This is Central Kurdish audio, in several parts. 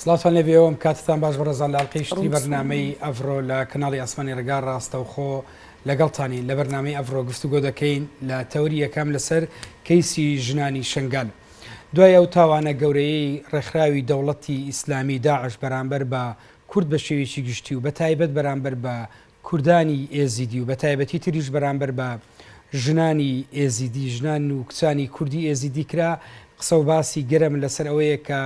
سڵاوتان لێ بێ وەم کاتتان باش بەڕێزان لە ئەڵقەی شتری بەرنامەی ئەڤرۆ لە کەناڵی ئاسمانی ڕێگا ڕاستەوخۆ لەگەڵتانی لە بەرنامەی ئەڤرۆ گفتوگۆ دەکەین لە تەوری یەکەم لەسەر کەیسی ژنانی شنگال دوای ئەو تاوانە گەورەیەی ڕێکخراوی دەوڵەتی ئیسلامی داعش بەرامبەر بە کورد بە شێوێکی گشتی و بە تایبەت بەرامبەر بە کوردانی ئێزیدی و بەتایبەتی تریش بەرامبەر بە ژنانی ئێزیدی، ژنان و کچانی کوردی ئێزیدی کرا، قسە و باسی گەرم لەسەر ئەوەیە کە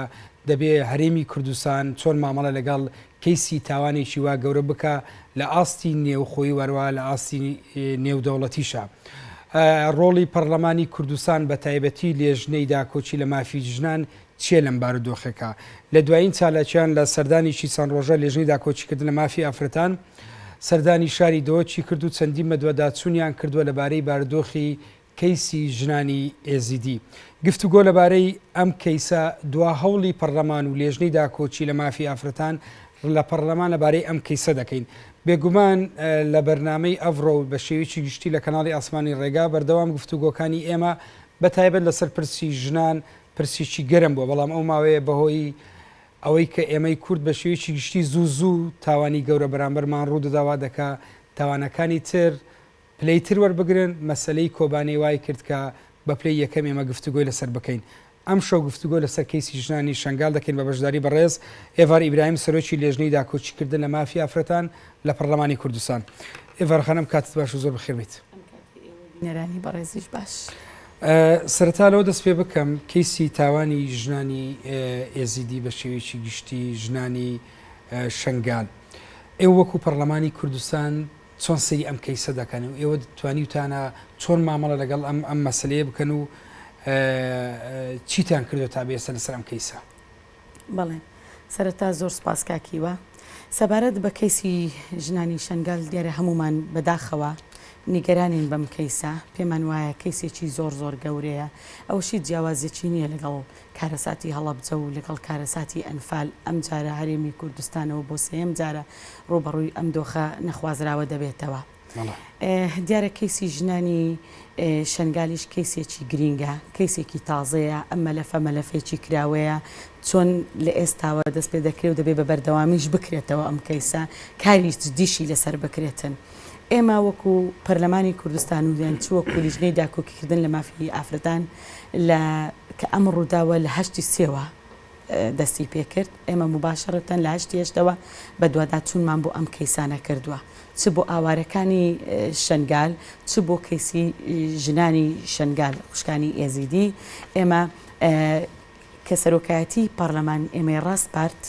دەبێ هەرێمی کوردستان چۆن مامەڵە لەگەڵ کەیسی تاوانێکی وا گەورە بکا لە ئاستی نێوخۆی و هەروەها لە ئاستی نێودەوڵەتیشا. ڕۆڵی پەڕلەمانی کوردستان بەتایبەتی لێژنەی داکۆکی لە مافی ژنان چیە لەم بارودۆخێکا لە دوایین چالاکیان لە سەردانیکی چەند ڕۆژە لێژنەی داکۆکیکردنە مافی ئافرەتان سەردانی شاری دهۆکی کرد و چەندین مەدوەداچونیان کردوە لە بارەی بارودۆخی کەیسی ژنانی ئێزیدی گفتوگۆ لە بارەی ئەم کەیسە دوا هەوڵی پەڕلەمان و لێژنەی داکۆکی لە مافی ئافرەتان لە پەڕلەمان لە بارەی ئەم کەیسە دەکەین بێگومان لە بەرنامەی ئەڤڕۆ و بە شێویکی گشتی لە کەناڵی ئاسمانی ڕێگا بەردەوام گفتوگۆکانی ئێمە بە تایبەت لەسەر پرسی ژنان پرسێکی گەرم بووە، بەڵام ئەو ماوەیە بەهۆی ئەوەی کە ئێمەی کورد بە شێوەیەکی گشتی زوو زوو تاوانی گەورە بەرامبەرمان ڕوو دەدا وا دەکا تاوانەکانی تر پلەی تر وەربگرن، مەسەلەی کۆبانێ وای کرد کە بە پلەی یەکەم ئێمە گفتوگۆی لەسەر بکەین. ئەمشەو گفتوگۆ لەسەر کەیسی ژنانی شەنگال دەکەین بە بەشداری بەڕێز ئێڤار ئیبراهیم سەرۆکی لێژنەی داکۆکیکردن لە مافی ئافرەتان لە پەڕڵەمانی کوردستان. ئێڤار خانم کاتت باشە زۆر بەخێر بێیت. بینەرانی بەڕێزیش باش. سەرەتا لەوە دەست پێ بکەم کەیسی تاوانی ژنانی ئێزیدی بە شێوەیەکی گشتی ژنانی شنگال ئێوە وەکو پەرلەمانی کوردستان چۆن سەیری ئەم کەیسە دەکەن و ئێوە توانیوتانە چۆن مامەڵە لەگەڵ ئەم ئەم مەسلەیە بکەن و چیتان کردو تا بێسە لەسەر ئەم کەیسە؟ بەڵێ سەرەتا زۆر سوپاس کاک هیوا. سەبارەت بە کەیسی ژنانی شەنگال دیارە هەموومان بەداخەوە نیگەرانین بەم کەیسە، پێمان وایە کەیسێکی زۆر زۆر گەورەیە، ئەوەش هیچ جیاوازیەکی نییە لەگەڵ کارەساتی هەڵەبجە و لەگەڵ کارەساتی ئەنفال، ئەمجارە هەرێمی کوردستانەوە بۆ سێیەم جارە ڕووبەڕووی ئەم دۆخە نەخوازراوە دەبێتەوە. دیارە کەیسی ژنانی شەنگالیش کەیسێکی گرینگە، کەیسێکی تازەیە، ئەم مەلەفە مەلەفێکی کراوەیە، چۆن لە ئێستاوە دەست پێ دەکرێ و دەبێ بە بەردەوامیش بکرێتەوە ئەم کەیسە، کاری جدیشی لەسەر بکرێتن. ئێمە وەکو پەرلەمانی کوردستان و یان چ وەکو لیژنەی داکۆکیکردن لە مافی ئافرەتان لە کە ئەم ڕووداوە لە هەشتی سێوە، دەستی پێ کرد، ئێمە موباشەرەتەن لە هەشتی هەشتەوە بەدواداچوونمان بۆ ئەم کەیسانە کردووە، چ بۆ ئاوارەکانی شەنگال، چ بۆ کەیسی ژنانی شەنگال، خوشکانی ئێزیدی ئێمە کە سەرۆکایەتی پارلەمان ئێمەی ڕاسپارد،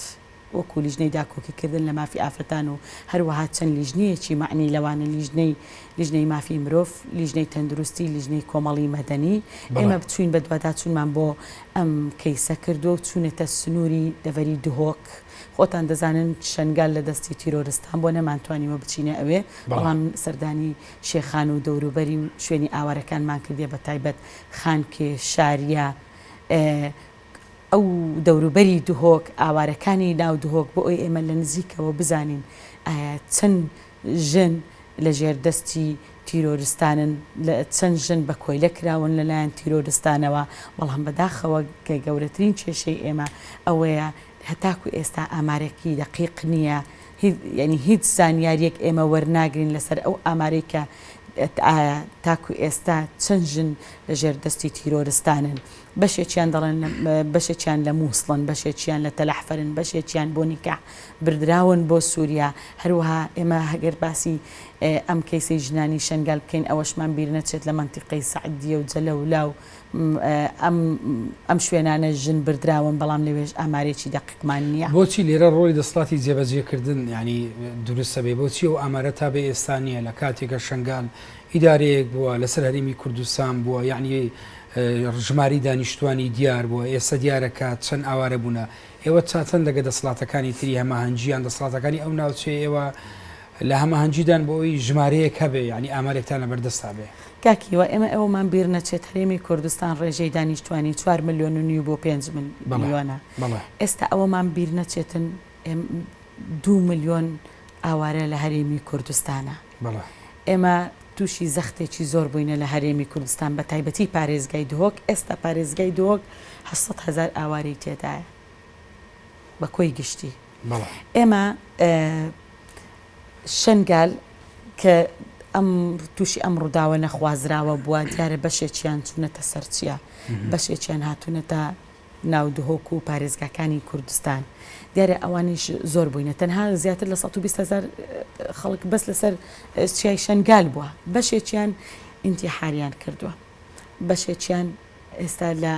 وەکو لیژنەی داکۆکیکردن لە مافی ئافرەتان و هەروەها چەند لیژنەیەکی مەعنی لەوانە لیژنەی لیژنەی مافی مرۆڤ، لیژنەی تەندروستی، لیژنەی کۆمەڵی مەدەنی، ئێمە بچووین بەدواداچوونمان بۆ ئەم کەیسە کردوە و چونەتە سنوری دەڤەری دهۆک، خۆتان دەزانن شەنگال لە دەستی تیرۆرستان بوە نەمانتوانیوە بچینە ئەوێ، بەڵام سەردانی شێخان و دەوروبەری و شوێنی ئاوارەکانمان کردیە بە تایبەت خانکێ، شاریە ئەو دەوروبەری دهۆک، ئاوارەکانی ناو دهۆک بۆ ئەوی ئێمە لە نزیکەوە بزانین ئایا چەند. ژن لە ژێر دەستی تیرۆرستانن، چەند ژن بە کۆیلە کراون لە لایەن تیرۆرستانەوە، بەڵام بە داخەوە کە گەورەترین کێشەی ئێمە ئەوەیە هەتاکو ئێستا ئامارێکی دەقیق نییە، یانی هیچ زانیارییەک ئێمە وەرناگرین لە سەر ئەو ئامارەی کە ئایا تاکو ئێستا چەند ژن لە ژێر دەستی تیرۆرستانن. بەشێکیان دەڵێن بەشێکیان لە مووسڵن، بەشێکیان لە تەلەحفەرن، بەشێکیان بۆ نیکاح بردراون بۆ سووریا، هەروەها ئێمە ئەگەر باسی ئەم کەیسەی ژنانی شەنگال بکەین ئەوەشمان بیر نەچێت لە مەنتیقەی سەعدیە و جەلەولا و ئەم شوێنانەش ژن بردراون بەڵام لەوێش ئامارێکی دەقیقمان نییە. بۆچی لێرە ڕۆڵی دەسڵاتی جێبەجێکردن یانی دروستە بێ؟ بۆچی ئەو ئامارە تا بە ئێستا نییە لە کاتێکە شەنگال ئیدارەیەک بووە لەسەر هەرێمی کوردستان بووە یانی ژماری دانیشتوانی دیار بووە، ئێستا دیارە کە چەند ئاوارە بوونە. ئێوە چاتەن لەگە دەسڵاتەکانی تری هەماهەنگی یان دەسڵاتەکانی ئەو ناوچەیە ئێوە لە هەماهەنگیدان بۆ ئەوی ژمارەیەک هەبێ یانی ئامارێکتان لە بەردەستا بێ؟ کاک هیوا ئێمە ئەوەمان بیر نەچێت هەرێمی کوردستان ڕێژەی دانیشتوانی چوار ملیۆن و نیو بۆ پێنج ملیۆنە ئێستا ئەوەمان بیر نەچێتن، دوو ملیۆن ئاوارە لە هەرێمی کوردستانە. ئێمە تووشی زەختێکی زۆر بووینە لە هەرێمی کوردستان بە تایبەتی پارێزگای دهۆک ئێستا پارێزگای دهۆک هەزار ئاوارەی تێدایە بە کۆی گشتی ئێمە شنگال کە ئەم تووشی ئەم ڕووداوە نەخوازراوە بووە دیارە بەشێکیان چوونەتە سەرچیە بەشێکیان هاتوونەتە ناو دهۆک و پارێزگاکانی کوردستان، دیارە ئەوانیش زۆر بووینە، تەنها زیاتر لە سەد و بیست هەزار خەڵک بەس لەسەر چیای شەنگال بووە، بەشێکیان ئینتیحاریان کردووە، بەشێکیان ئێستا لە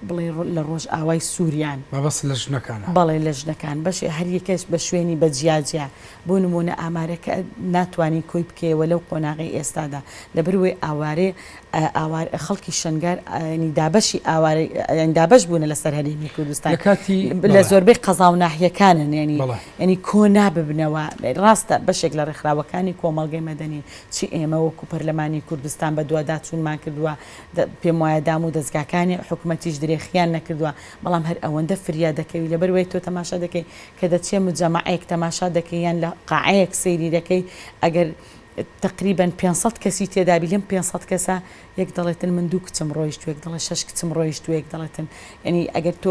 بڵێ لە ڕۆژئاوای سووریان. مەبەست لە ژنەکانە؟ بەڵێ لە ژنەکان، بەشێ هەر یەکەش بە شوێنی بە جیا جیا، بۆ نموونە ئامارەکە ناتوانی کۆی بکەیەوە لەو قۆناغەی ئێستادا، لەبەر وەی ئاوارێ ئاوار خەڵکی شەنگال ینی دابەشی ئاوارە ینی دابەش بوونە لەسەر هەرێمی کوردستان لەکاتی لە زۆربەی قەزا و ناحیەکانن ینی ینی کۆ ناببنەوە ڕاستە بەشێک لە ڕێکخراوەکانی کۆمەڵگەی مەدەنی چی ئێمە وەکو پەرلەمانی کوردستان بەدواداچوونمان کردووە پێم وایە دام و دەستگاکانی حکوومەتیش درێخیان نەکردووە بەڵام هەر ئەوەندە فریا دەکەوی لەبەر وی تۆ تەماشا دەکەی کە دەچێ مجەماعەیەک تەماشا دەکەی یان لە قاعەیەک سەیری دەکەی ئەگەر تەقریبەن پێنج سەد کەسی تێدابی لەم پێنج سەد کەسە یەک دەڵێتن من دوو کچم ڕۆیشتوە یەک دەڵێ شەش کچم ڕۆیشتوە یەک دەڵێتن یەنی ئەگەر تۆ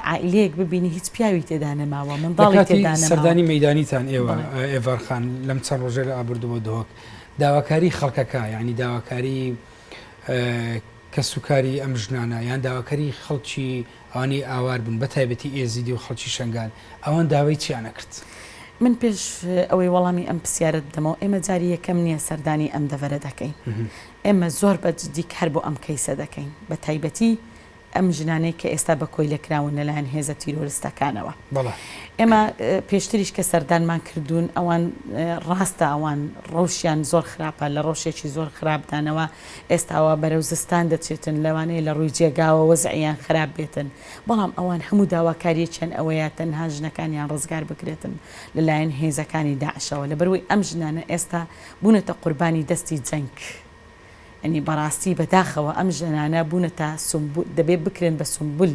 عائیلەیەک ببینی هیچ پیاوی تێدا نەماوە منداڵی تێدا نەماوە. لەکاتی سەردانی مەیدانیتان ئێوە ئێڤار خان لەم چەند ڕۆژەی ڕابردووە دهۆک داواکاری خەڵکەکە یانی داواکاری کەسوکاری ئەم ژنانە یان داواکاری خەڵکی ئەوانەی ئاوار بوون بەتایبەتی ئێزیدی و خەڵکی شەنگال ئەوان داوای چیان ئەکرد؟ من پێش ئەوەی وەڵامی ئەم پسیارەت بدەمەوە ئێمە جاری یەکەم نیە سەردانی ئەم دەڤەرە دەکەین ئێمە زۆر بە جدی کار بۆ ئەم کەیسە دەکەین بە تایبەتی ئەم ژنانەی کە ئێستا بە کۆیلە کراون لەلایەن هێزە تیرۆرستەکانەوە ئێمە پێشتریش کە سەردانمان کردوون ئەوان ڕاستە ئەوان ڕەوشیان زۆر خراپە لە ڕەوشێکی زۆر خراپدانەوە ئێستا وا بەرەو زستان دەچێتن، لەوانەیە لە ڕووی جێگاوە وەزعیان خراپ بێتن، بەڵام ئەوان هەموو داواکارییەکیان ئەوەیە تەنها ژنەکانیان ڕزگار بکرێتن لەلایەن هێزەکانی داعشەوە، لەبەروەی ئەم ژنانە ئێستا بوونەتە قوربانی دەستی جەنگ، یەنی بەڕاستی بەداخەوە ئەم ژنانە بوونەتە سومبول، دەبێت بکرێن بە سومبول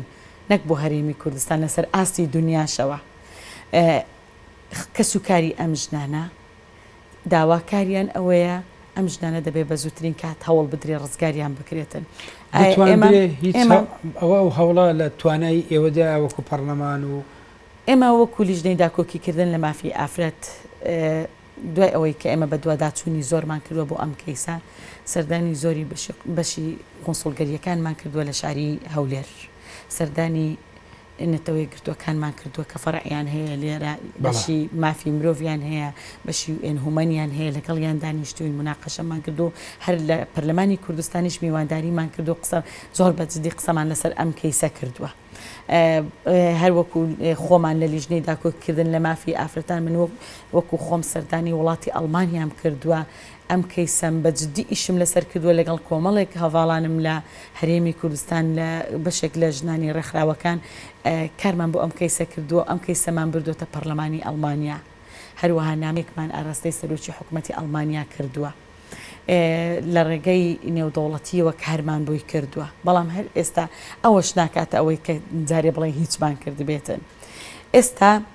نەک بۆ هەرێمی کوردستان لەسەر ئاستی دونیاشەوە کەسوکاری ئەم ژنانە داواکاریان ئەوەیە ئەم ژنانە دەبێت بە زووترین کات هەوڵ بدرێت ڕزگاریان بکرێتن. دەتوانرێت ئەوە ئەو هەوڵە لە توانای ئێوەدایە وەکو پەڕلەمان و. ئێمە وەکو لیژنەی داکۆکیکردن لە مافی ئافرەت دوای ئەوەی کە ئێمە بەدواداچوونی زۆرمان کردووە بۆ ئەم کەیسە، سەردانی زۆری بەشی قونسوڵگەرییەکانمان کردووە لە شاری هەولێر، سەردانی نەتەوەیەکگرتووەکانمان کردووە کە فەرعیان هەیە لێرە، بەشی مافی مرۆڤیان هەیە، بەشی یو ئێن هومەنیان هەیە، لەگەڵیان دانیشتووین، موناقەشەمان کردووە، هەر لە پەرلەمانی کوردستانیش میوانداریمان کردووە و قسە، زۆر بە جدی قسەمان لەسەر ئەم کەیسە کردووە. هەر وەکو خۆمان لە لیژنەی داکۆکیکردن لە مافی ئافرەتان، من وەکو خۆم سەردانی وڵاتی ئەڵمانیام کردووە، ئەم کەیسەم بە جدی ئیشم لەسەر کردووە لەگەڵ کۆمەڵێک هەڤاڵانم لە هەرێمی کوردستان لە بەشێک لە ژنانی ڕێکخراوەکان کارمان بۆ ئەم کەیسە کردووە و ئەم کەیسەمان بردۆتە پەڕلەمانی ئەڵمانیا هەروەها نامەیەکمان ئاراستەی سەرۆکی حکومەتی ئەڵمانیا کردووە لە ڕێگەی نێودەوڵەتیەوە کارمان بۆی کردووە بەڵام هەر ئێستا ئەوەش ناکاتە ئەوەی کە جارێ بڵێ هیچمان کردبێتن ئێستا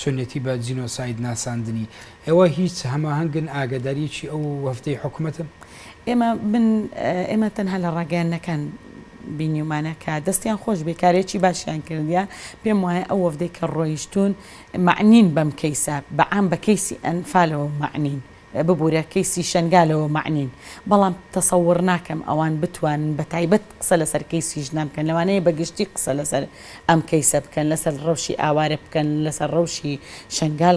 چۆنیەتی بە جینۆساید ناساندنی؟ ئێوە هیچ هەماهەنگن ئاگەداریەکی ئەو وەفدەی حکومەتن؟ ئێمە من ئێمە تەنها لە ڕاگەیاندنەکان بینیومانە کە دەستیان خۆش بێ کارێکی باشیان کردیە پێم وایە ئەو وەفدەی کە ڕۆیشتون مەعنین بەم کەیسە بە عام بە کەیسی ئەنفالەوە مەعنین ببورە کەیسی شەنگالەوە مەعنین بەڵام تەسەوڕ ناکەم ئەوان بتوانن بە تایبەت قسە لەسەر کەیسی ژنان بکەن لەوانەیە بە گشتی قسە لەسەر ئەم کەیسە بکەن لەسەر ڕەوشی ئاوارە بکەن لەسەر ڕەوشی شەنگال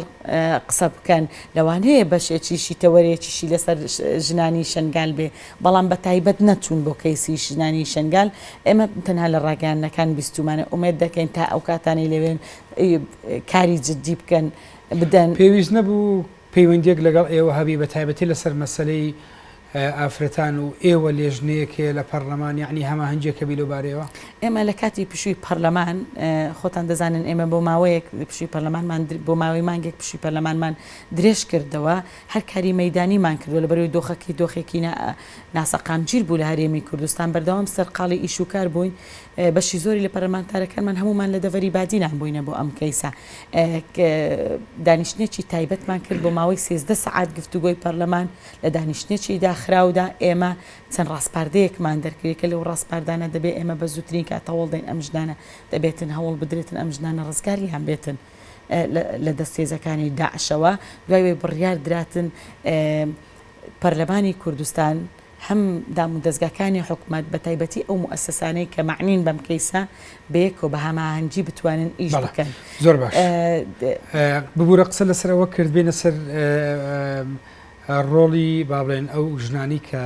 قسە بکەن لەوانەیە بەشێکیشی تەوەرێکیشی لەسەر ژنانی شەنگال بێ بەڵام بە تایبەت نەچوون بۆ کەیسی ژنانی شەنگال ئێمە تەنها لە ڕاگەیاندنەکان بیستومانە ئومێد دەکەین تا ئەو کاتانەی لەوێن کاری جدی بکەن بدەن. پێویست نەبوو پەیوەندیەک لەگەڵ ئێوە هەبی بە تایبەتی لەسەر مەسەلەی ئافرەتان و ئێوە لێژنەیەک هەیە لە پەڕلەمان یەعنی هەماهەنگیەک هەبی لەو بارەیەوە؟ ئێمە لە کاتی پشوی پەڕلەمان خۆتان دەزانن ئێمە بۆ ماوەیەک پشوی پەرلەمانمان بۆ ماوەی مانگێک پشوی پەرلەمانمان درێژ کردەوە هەر کاری مەیدانیمان کردوە لە بەروی دۆخەکی دۆخێکی ناسەقامگیر بوو لە هەرێمی کوردستان بەردەوام سەرقاڵی ئیش و کار بووین بەشی زۆری لە پەرلەمانتارەکانمان هەموومان لە دەڤەری بادینان بووینە بۆ ئەم کەیسە. دانیشتنێکی تایبەتمان کرد بۆ ماوەی سێزدە سەعات گفتوگۆی پەرلەمان، لە دانیشتنێکی داخراودا ئێمە چەند ڕاسپاردەیەکمان دەرکرد، یەکە لەو ڕاسپاردانە دەبێت ئێمە بە زووترین کات هەوڵ دەین ئەم ژنانە دەبێتن هەوڵ بدرێتن ئەم ژنانە ڕزگاریان بێتن لە دەست هێزەکانی داعشەوە، دوای ئەوەی بڕیار دراتن پەرلەمانی کوردستان، هەم دامودەزگاکانی حکومەت بە تایبەتی ئەو موئەسەسانەی کە مەعنین بەم کەیسە بەیەکەوە بە هەماهەنگی بتوانن ئیش بکەن. بەڵێ زۆر باش ببورە قسە لەسەر ئەوە کرد بێنە سەر ڕۆڵی با بڵێن ئەو ژنانەی کە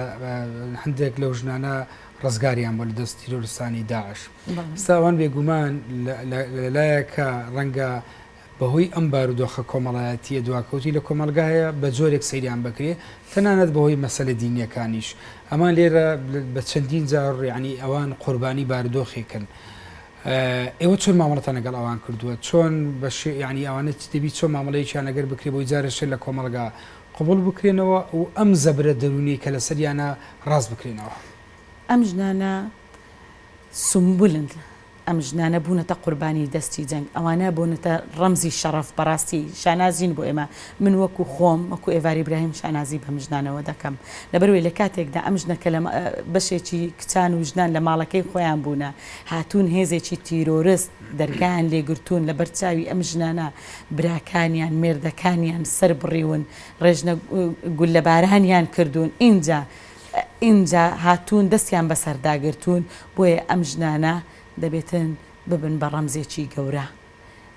هەندێک لەو ژنانە ڕزگاریان بۆ لە دەست تیرۆرستانی داعش ئێستا ئەوان بێگومان لە لایەکە ڕەنگە بەهۆی ئەم بارودۆخە کۆمەڵایەتییە دواکەوتووی لە کۆمەڵگایە بە جۆرێک سەیریان بکرێ تەنانەت بەهۆی مەسەلە دینییەکانیش ئەمان لێرە بە چەندین جار یعنی ئەوان قوربانی بارودۆخێکن ئێوە چۆن مامەڵەتان لەگەڵ ئەوان کردووە چۆن بە شێ یعنی ئەوانە چ دەبی چۆن مامەڵەیەکیان ئەگەر بکرێ بۆی جارە شێ لە کۆمەڵگا قبوڵ بکرێنەوە و ئەم زەبرە دەروونیەی کە لەسەریانە ڕاست بکرێنەوە. ئەم ژنانە سومبولن. ئەم ژنانە بونەتە قوربانی دەستی جەنگ ئەوانە بونەتە ڕەمزی شەڕەف بەڕاستی شانازین بۆ ئێمە من وەکو خۆم وەکو ئێڤاری براهیم شانازی بەم ژنانەوە دەکەم لەبەروەی لە کاتێکدا ئەم ژنە کە لە بەشێکی کچان و ژنان لە ماڵەکەی خۆیان بونە هاتون هێزێکی تیرۆرست دەرگایان لێ گرتون لە بەر چاوی ئەم ژنانە براکانیان مێردەکانیان سەر بڕیون ڕێژنە گوللە بارانیان کردون ئینجا ئینجا هاتوون دەستیان بەسەردا گرتوون، بۆیە ئەم ژنانە دەبێتن ببن بە ڕەمزێکی گەورە.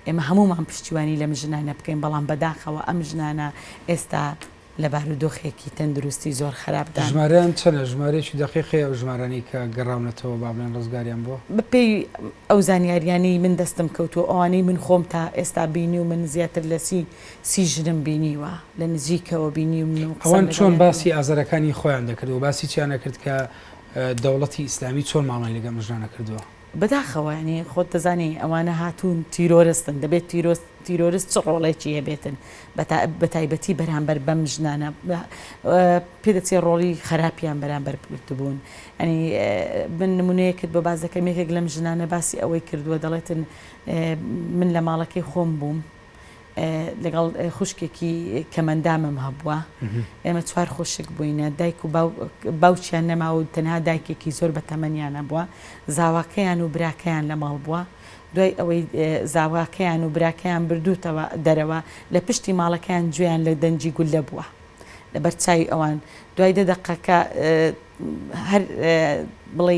ئێمە هەموومان پشتیوانی لەم ژنانە بکەین، بەڵام بەداخەوە ئەم ژنانە ئێستا لە بارودۆخێکی تەندروستی زۆر خەراپدان. ژمارەیان چەنە؟ ژمارەیەکی دەقیق هەیە ئەو ژمارانەی کە گەڕاونەتەوە با بڵێن ڕزگاریان بووە؟ بەپێی ئەو زانیاریانەی من دەستم کەوتووە، ئەوانەی من خۆم تا ئێستا بینیومن زیاتر لە سی سیژنم بینیوە لە نزیکەوە بینیومن و قسەم ئەوان چۆن لەگەڵیان باسی کردووە. ئازەرەکانی خۆیان دەکرد و باسی چیان نەکرد کە دەوڵەتی ئیسلامی چۆن مامەڵەی لەگەڵ ئەم ژنانە کردووە؟ بەداخەوە یانی خۆت دەزانی ئەوانە هاتوون تیرۆرستن دەبێت تیرۆست تیرۆرست چ ڕۆڵێکی هەبێتن بە تا بە تایبەتی بەرامبەر بەم ژنانە پێ دەچێ ڕۆڵی خەراپیان بەرامبەر بگرتبوون یانی من نمونەیەکت بۆ باس دەکەم یەکێک لەم ژنانە باسی ئەوەی کردووە دەڵێتن من لە ماڵەکەی خۆم بووم لەگەڵ خوشکێکی کەمەندامم هەبووە ئێمە چوار خوشک بووینە دایک و باوچیان نەماوە و تەنها دایکێکی زۆر بە تەمەنیانە بووە زاواکەیان و براکەیان لە ماڵ بووە دوای ئەوەی زاواکەیان و براکەیان بردووتەوە دەرەوە لە پشتی ماڵەکەیان گوێیان لە دەنجی گوللە بووە لە بەرچوی ئەوان دوای دە دەقەکە هەر بڵێ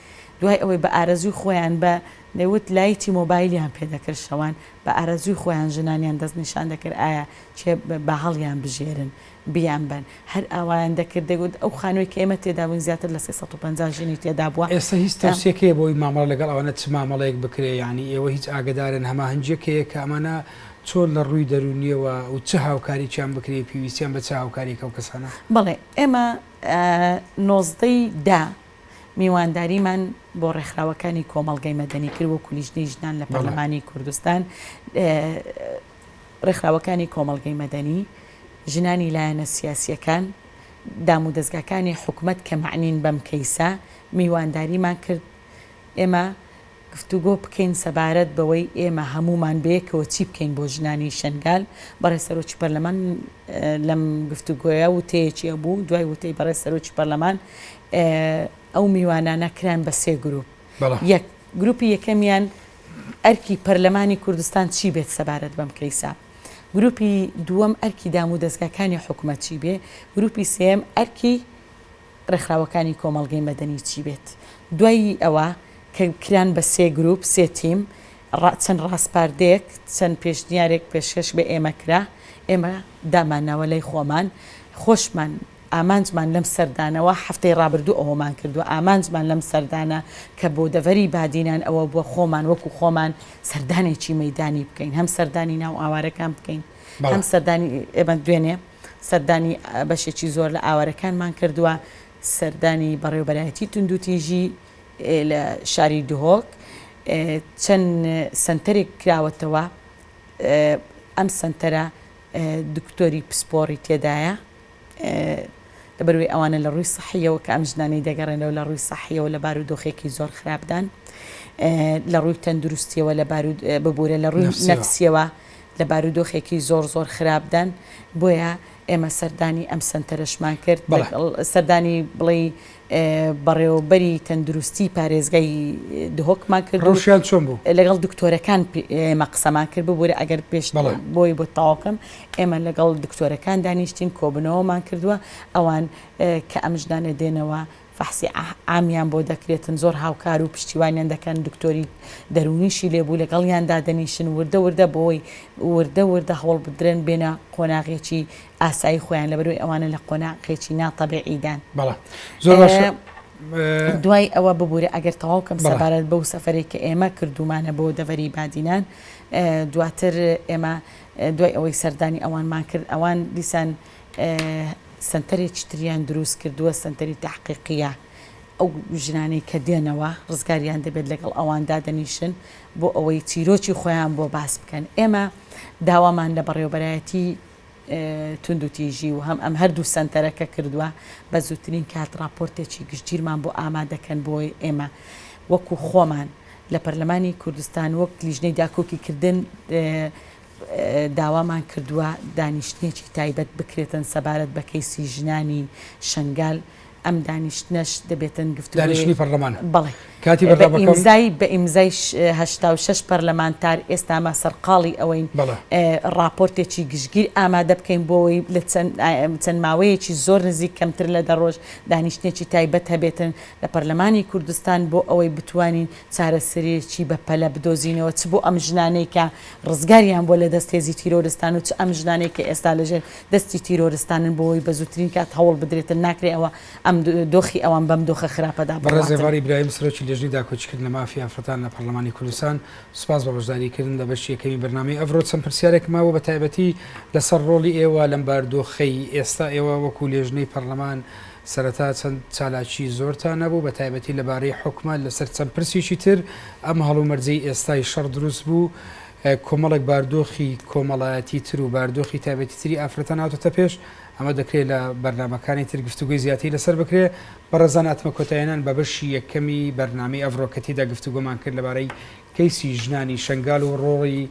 دوای ئەوەی بە ئارەزووی خۆیان بە دەیوت لایتی مۆبایلیان پێ دەکرد شەوان بە ئارەزووی خۆیان ژنانیان دەست نیشان دەکرد ئایا چیە با هەڵیان بژێرن بیان بەن هەر ئاوایان دەکرد دەیوت ئەو خانووی کە ئێمە تێدا بووین زیاتر لە سێ سەد و پەنجا ژنی تێدا بووە ئێستا هیچ ترسێک هەیە بۆی مامەڵە لەگەڵ ئەوانە چ مامەڵەیەک بکرێ یانی ئێوە هیچ ئاگەدارن هەماهەنگیەک هەیە کە ئەمانە چۆن لە ڕووی دەروونیەوە و چ هاوکاریکیان بکرێ پێویستیان بە چ هاوکاریەک ئەو کەسانە؟ بەڵێ ئێمە نۆزدە ی دە میوانداریمان بۆ ڕێکخراوەکانی کۆمەڵگەی مەدەنی کرد وەکو لیژنەی ژنان لە پەرلەمانی کوردستان ڕێکخراوەکانی کۆمەڵگەی مەدەنی ژنانی لایەنە سیاسیەکان دام و دەستگاکانی حکومەت کە مەعنین بەم کەیسە میوانداریمان کرد ئێمە گفتوگۆ بکەین سەبارەت بەوەی ئێمە هەموومان بەیەکەوە چی بکەین بۆ ژنانی شەنگال، بەڕێز سەرۆکی پەرلەمان لەم گفتوگۆیە وتەیەکی هەبوو، دوای وتەی بەڕێز سەرۆکی پەرلەمان ئەو میوانانە کران بە سێ گروپ، یەک، گروپی یەکەمیان ئەرکی پەرلەمانی کوردستان چی بێت سەبارەت بەم کەیسە، گروپی دووەم ئەرکی دامودەزگاکانی حکومەت چی بێ، گروپی سێیەم ئەرکی. ڕێکخراوەکانی کۆمەڵگەی مەدەنی چی بێت دوای ئەوە کە کران بە سێ گروپ سێ تیم ڕا چەند ڕاسپاردەیەک چەند پێشنیارێک پێشکەش بە ئێمە کرا ئێمە دامانناوە لای خۆمان خۆشمان ئامانجمان لەم سەردانەوە هەفتەی ڕابردوو ئەوەمان کردوە ئامانجمان لەم سەردانە کە بۆ دەڤەری بادینان ئەوە بوە خۆمان وەکو خۆمان سەردانێکی مەیدانی بکەین هەم سەردانی ناو ئاوارەکان بکەین هەم سەردانی ئێمە دوێنێ سەردانی بەشێکی زۆر لە ئاوارەکانمان کردووە، سەردانی بەڕێوەبەرایەتی توندوتیژی لە شاری دهۆک چەند سەنتەرێک کراوەتەوە، ئەم سەنتەرە دکتۆری پسپۆڕی تێدایە، لەبەروەی ئەوانە لە ڕووی سەحیەوە کە ئەم ژنانەی دەگەڕێنەوە لە ڕووی سەحیەوە لە بارودۆخێکی زۆر خراپدان، لە ڕووی تەندروستیەوە لە بارود ببورە لە ڕووی نەفسیەوە. لە بارودۆخێکی زۆر زۆر خراپدان، بۆیە ئێمە سەردانی ئەم سەنتەرەشمان کرد، سەردانی بڵێ بەڕێوەبەری تەندروستی پارێزگای دهۆکمان کرد، ڕەوشیان چۆن بوو؟ لەگەڵ دکتۆرەکان ئێمە قسەمان کرد، ببوورە ئەگەر پێش بۆی بۆ تاواکەم، ئێمە لەگەڵ دکتۆرەکان دانیشتین کۆبنەوەمان کردووە، ئەوان کە ئەم ژنانە دێنەوە فەحسی عامیان بۆ دەکرێتن زۆر هاوکار و پشتیوانیان دەکەن دکتۆری دەروونیشی لێ بوو لەگەڵیان دادەنیشن وردە وردە بۆی وردە وردە هەوڵبدرێن بێنە قۆناغێکی ئاسایی خۆیان لەبەروی ئەوانە لە قۆناغێکی نا تەبیعیدان بەڵێ زۆر باشە دوای ئەوە ببوورە ئەگەر تەواو کەم سەبارەت بەو سەفرێک کە ئێمە کردومانە بۆ دەڤەری بادینان دواتر ئێمە دوای ئەوەی سەردانی ئەوانمان کرد ئەوان دیسان سەنتەرێکی تریان دروست کردووە سەنتەری تەحقیقیە ئەو ژنانەی کە دێنەوە ڕزگاریان دەبێت لەگەڵ ئەوان دادەنیشن بۆ ئەوەی چیرۆکی خۆیان بۆ باس بکەن ئێمە داوامان لە بەڕێوبەرایەتی توندوتیژی و هەم ئەم هەردوو سەنتەرەکە کردووە بە زووترین کات راپۆرتێکی گشتگیرمان بۆ ئامادەکەن بۆی ئێمە وەکو خۆمان لە پەرلەمانی کوردستان وەک لیژنەی داکۆکیکردن داوامان کردووە دانیشتنێکی تایبەت بکرێتن سەبارەت بە کەیسی ژنانی شەنگال، ئەم دانیشتنەش دەبێتن گفتوگۆی پەرلەمان، بەڵێ بە ئیمزای هەشتا و شەش پەرلەمانتار، ئێستا ئەمە سەرقاڵی ئەوەین ڕاپۆرتێکی گشتگیر ئامادە بکەین بۆ ئەوەی لە چەند ماوەیەکی زۆر نزیک کەمتر لە دە ڕۆژ دانیشتنێکی تایبەت هەبێتن لە پەرلەمانی کوردستان بۆ ئەوەی بتوانین چارەسەرێکی بەپەلە بدۆزینەوە چ بۆ ئەم ژنانەی کە ڕزگاریان بووە لە دەست هێزی تیرۆرستان و چ ئەم ژنانەی کە ئێستا لە ژێر دەستی تیرۆرستانن بۆ وەی بە زووترین کات هەوڵ بدرێتن ناکرێ ئەوە ئەم دۆخی ئەوان بەم دۆخە خراپەدا بڕواتن. بەڕێز ئێڤار ئیبراهیم سەرۆکی لێژنەی داکۆکیکردنە مافی ئافرەتان لە پەڕلەمانی کوردستان سوپاس بۆ بەشداری کردن لە بەشی یەکەمی بەرنامەی ئەڤرۆ چەند پرسیارێکم مابوو بە تایبەتی لەسەر ڕۆڵی ئێوە لەم باردۆخەی ئێستا ئێوە وەکو لێژنەی پەڕلەمان سەرەتا چەند چالاکی زۆرتان هەبوو بە تایبەتی لە بارەی حوکمە لە سەر چەند پرسیکی تر، ئەم هەڵومەرجەی ئێستای شەڕ دروست بوو کۆمەڵێک باردۆخی کۆمەڵایەتی تر و باردۆخی تایبەتی تری ئافرەتان هاتۆتە پێش، ئەمە دەکرێ لە بەرنامەکانی تر گفتوگۆی زیاتری لە سەر بکرێ. بەڕێزان ئەتمە کۆتایهێنان بە بەشی یەکەمی بەرنامەی ئەڤڕۆ کە تێیدا گفتوگۆمان کرد لە بارەی کەیسی ژنانی شەنگال و ڕۆڵی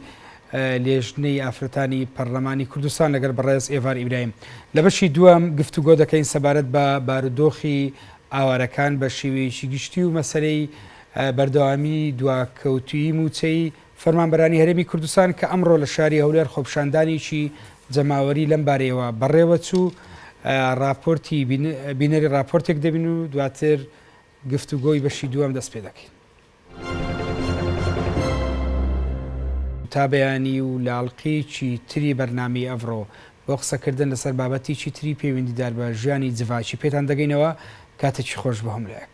لیژنەی ئافرەتانی پەرلەمانی کوردستان لەگەل بەڕێز ئێڤار ئیبراهیم لە بەشی دووەم گفتوگۆ دەکەین سەبارەت بە بارودۆخی ئاوارەکان بە شێوەیەکی گشتی و مەسەلەی بەردەوامی دواکەوتویی مووچەی فەرمانبەرانی هەرێمی کوردستان کە ئەمڕۆ لە شاری هەولێر خۆپشاندانێکی جەماوەری لەم بارەیەوە بەڕێوە چوو راپۆرتی بینەری راپۆرتێک دەبین و دواتر گفتوگۆی بەشی دووەم دەست پێ دەکەین. تا بەیانی و لاڵقیەکی تری بەرنامەی ئەڤڕۆ بۆ قسەکردن لەسەر بابەتیکی تری پەیوندیدار بە ژیانی جڤاکی پێتان دەگەینەوە کاتەکی خۆش بەهۆم لایک.